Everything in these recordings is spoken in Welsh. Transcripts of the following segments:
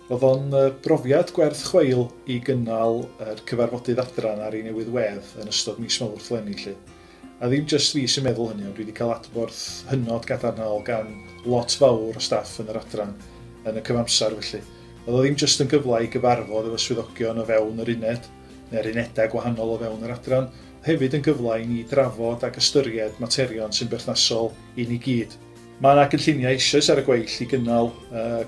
Roedd o'n brofiad gwerth chweil i gynnal yr cyfarfodydd adran ar ei newydd wedd yn ystod mis Mawrth 'leni 'lly. A ddim jyst fi sy'n meddwl hynny ond dwi 'di cael adborth hynod gadarnhaol gan lot fawr o staff yn yr adran yn y cyfamser felly. Oedd o ddim jyst yn gyfle i gyfarfod efo swyddogion o fewn yr uned neu'r unedau gwahanol o fewn yr adran, oedd hefyd yn gyfle i ni drafod ac ystyried materion sy'n berthnasol i ni gyd. Mae yna gynlluniau eisoes ar y gweill i gynnal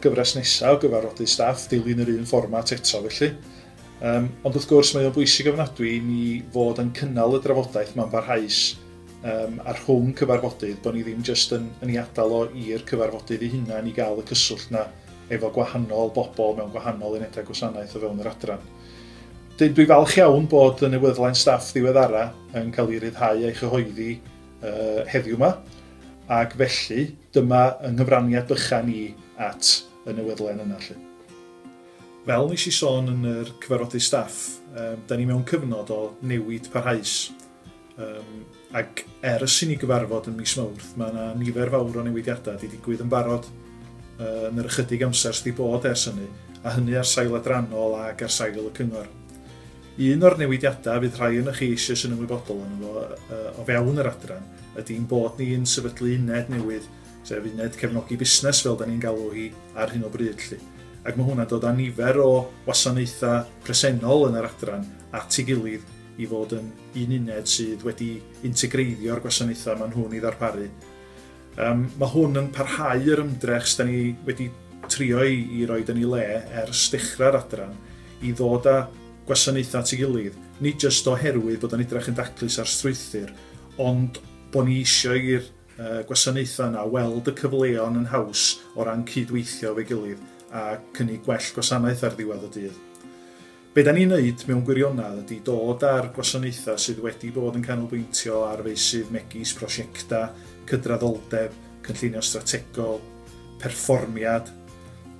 gyfres nesaf o gyfarfodydd staff, dilyn yr un fformat eto felly. Um, ond wrth gwrs mae o'n bwysig ofnadwy i ni fod yn cynnal y drafodaeth mae'n barhaus um, a rhwng cyfarfodydd, bod ni ddim jyst yn, yn ei adael o i'r cyfarfodydd i hunain i gael y cyswllt na efo gwahanol bobl mewn gwahanol unedau gwasanaeth o fewn yr adran. Dyn, dwi falch iawn bod y newyddlen staff ddiweddara yn cael ei ryddhau a'i chyhoeddi uh, heddiw yma, Ac felly, dyma yng nghyfraniad bychan i at y newyddlen yna 'lly. Fel nes i sôn yn yr cyfarfodydd staff, yym, 'da ni mewn cyfnod o newid parhaus, yym, ac ers i ni gyfarfod ym mis Mawrth, mae yna nifer fawr o newidiadau 'di digwydd yn barod yy yn yr ychydig amser sy' 'di bod ers hynny, a hynny ar sail adrannol ac ar sail y cyngor. Un o'r newidiadau fydd rhai onoch chi eisiau sy'n ymwybodol yn fo o fewn yr adran ydy'n bod ni yn sefydlu uned newydd, sef uned cefnogi busnes fel da ni'n galw hi ar hyn o bryd lli. Ac mae hwnna'n dod â nifer o wasanaethau presennol yn yr adran at ei gilydd i fod yn un uned sydd wedi integreiddio'r gwasanaethau maen nhw'n ei ddarparu. Yym, mae hwn yn parhau yr ymdrech s'da ni wedi trio i, i roed yn ei le ers dechrau'r adran, i ddod â gwasanaethau at ei gilydd, nid jyst oherwydd bod o'n edrych yn daclus ar strwythur, ond bod ni eisiau i'r uh, gwasanaethau yna weld y cyfleon yn haws o ran cydweithio efo'i gilydd a cynnig gwell gwasanaeth ar ddiwedd y dydd. Be da ni'n wneud mewn gwirionedd ydy dod â'r gwasanaethau sydd wedi bod yn canolbwyntio ar feysydd megis prosiectau, cydraddoldeb, cynllunio strategol, perfformiad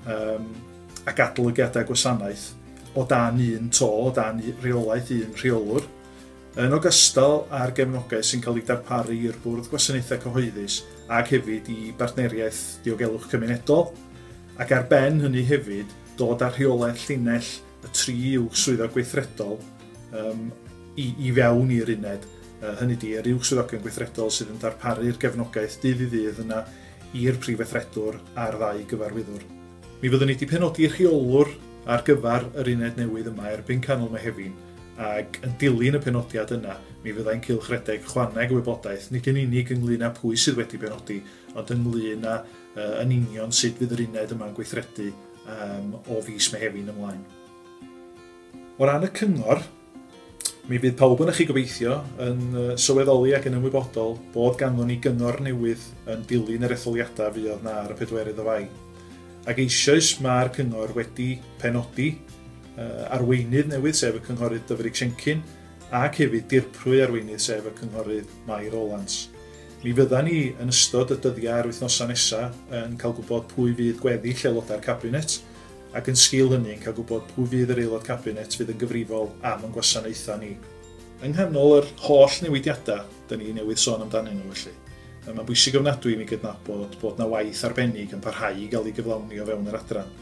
um, ac adolygiadau gwasanaeth o dan un to, o dan reolaeth un rheolwr, yn ogystal â'r gefnogaeth sy'n cael ei darparu i'r Bwrdd Gwasanaethau Cyhoeddus ac hefyd i Bartneriaeth Diogelwch Cymunedol, ac ar ben hynny hefyd dod â rheolaeth llinell y tri uwch swyddog gweithredol um, i, i fewn i'r uned. Uh, hynny di, yr uwch swyddogion gweithredol sydd yn darparu'r gefnogaeth dydd i ddydd yna i'r prif weithredwr a'r ddau gyfarwyddwr. Mi fyddwn ni wedi penodi rheolwr ar gyfer yr uned newydd yma erbyn canol Mehefin, ac yn dilyn y penodiad yna, mi fyddai'n cylch redeg chwaneg y wybodaeth, nid yn unig ynglyn â pwy sydd wedi penodi, ond ynglyn â Yy, yn union sut fydd yr uned yma'n gweithredu yym o fis Mehefin ymlaen. O ran y cyngor, mi fydd pawb yn chi gobeithio yn sylweddoli ac yn ymwybodol bod ganddon ni gyngor newydd yn dilyn yr etholiadau fuodd na ar y pedwerydd o Fai. Ac eisoes mae'r cyngor wedi penodi uh, arweinydd newydd sef y cynghorydd Dyfrig Siencyn ac hefyd dirprwy arweinydd sef y cynghorydd Mai Rowlands. Mi fyddan ni, yn ystod y dyddiau a'r wythnosau nesaf, yn cael gwybod pwy fydd gweddill aelodau'r Cabinet, ac yn sgil hynny, yn cael gwybod pwy fydd yr Aelod Cabinet fydd yn gyfrifol am ein gwasanaethau ni. Yng nghanol yr holl newidiadau 'da ni newydd sôn amdanyn nhw, felly, mae'n bwysig ofnadwy i mi gydnabod bod 'na waith arbennig yn parhau i gael ei gyflawni o fewn yr Adran.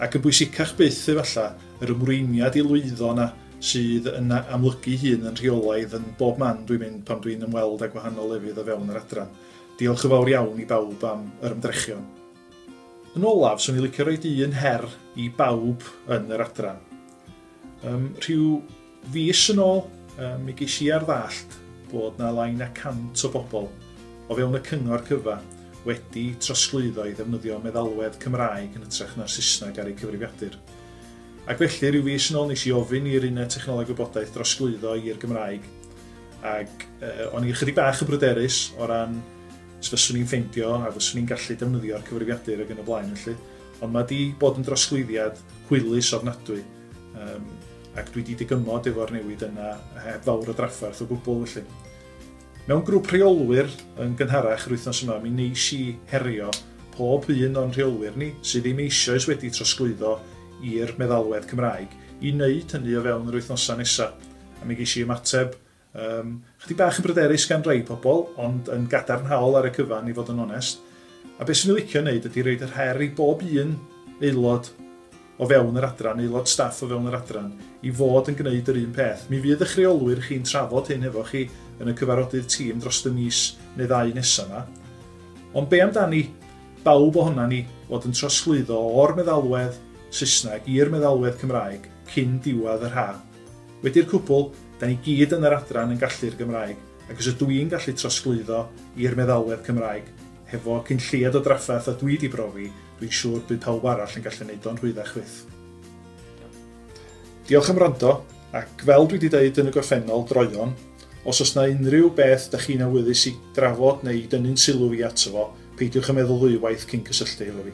Ac yn bwysicach byth, efallai, yr ymrwymiad i lwyddo yna sydd yn amlygu'i hun yn rheolaidd yn bob man dwi'n mynd pan dwi'n ymweld â gwahanol lefydd o fewn yr adran. Diolch yn fawr iawn i bawb am yr ymdrechion. Yn olaf, swn i'n licio rhoi un her i bawb yn yr adran. Yym, rhyw Fis yn ôl, mi ges i ar ddallt bod 'na lai na 100 o bobl o fewn y cyngor cyfa wedi trosglwyddo i ddefnyddio meddalwedd Cymraeg yn hytrach na'r Saesneg ar eu cyfrifiadur. Ac felly, rhyw fis yn ôl nes i ofyn i'r Uned Technoleg Gwybodaeth drosglwyddo i'r Gymraeg ac uh, o'n i ychydig bach yn bryderus o ran os fyswn i'n ffeindio a fyswn i'n gallu defnyddio'r cyfrifiadur ag yn y blaen felly. Ond mae di bod yn drosglwyddiad hwylus ofnadwy. Um, ac dwi 'di digymod efo'r newid yna heb fawr o drafferth o gwbl felly. Mewn grŵp rheolwyr yn gynharach yr wythnos yma mi neis i herio pob un o'n rheolwyr ni sydd ddim eisoes wedi trosglwyddo i'r meddalwedd Cymraeg i wneud hynny o fewn yr wythnosau nesaf a mi geis i ymateb Yym, chydig bach yn bryderus gan rai pobl, ond yn gadarnhaol ar y cyfan i fod yn onest. A beth swn i'n licio wneud ydy roed yr her i bob un aelod o fewn yr adran, aelod staff o fewn yr adran, i fod yn gwneud yr un peth. Mi fydd ych rheolwyr chi'n trafod hyn hefo chi yn y cyfarodydd tîm dros y mis neu ddau nesaf yma. Ond be amdani bawb ohona ni fod yn trosglwyddo o'r meddalwedd Saesneg i'r meddalwedd Cymraeg cyn diwedd yr haf? Wedi'r cwbl, da ni gyd yn yr adran yn gallu'r Gymraeg, ac os ydw i'n gallu trosglwyddo i'r meddalwedd Cymraeg, hefo cyn lleied o drafferth a dwi di brofi, dwi'n siŵr bydd pawb arall yn gallu neud o'n rhwyddach fyth. Diolch am wrando, ac fel dwi di deud yn y gorffennol, droeon, os o's na unrhyw beth da chi'n awyddus i drafod neu i dynnu'n sylw i ato fo, peidiwch a meddwl ddwywaith cyn cysylltu hefo fi.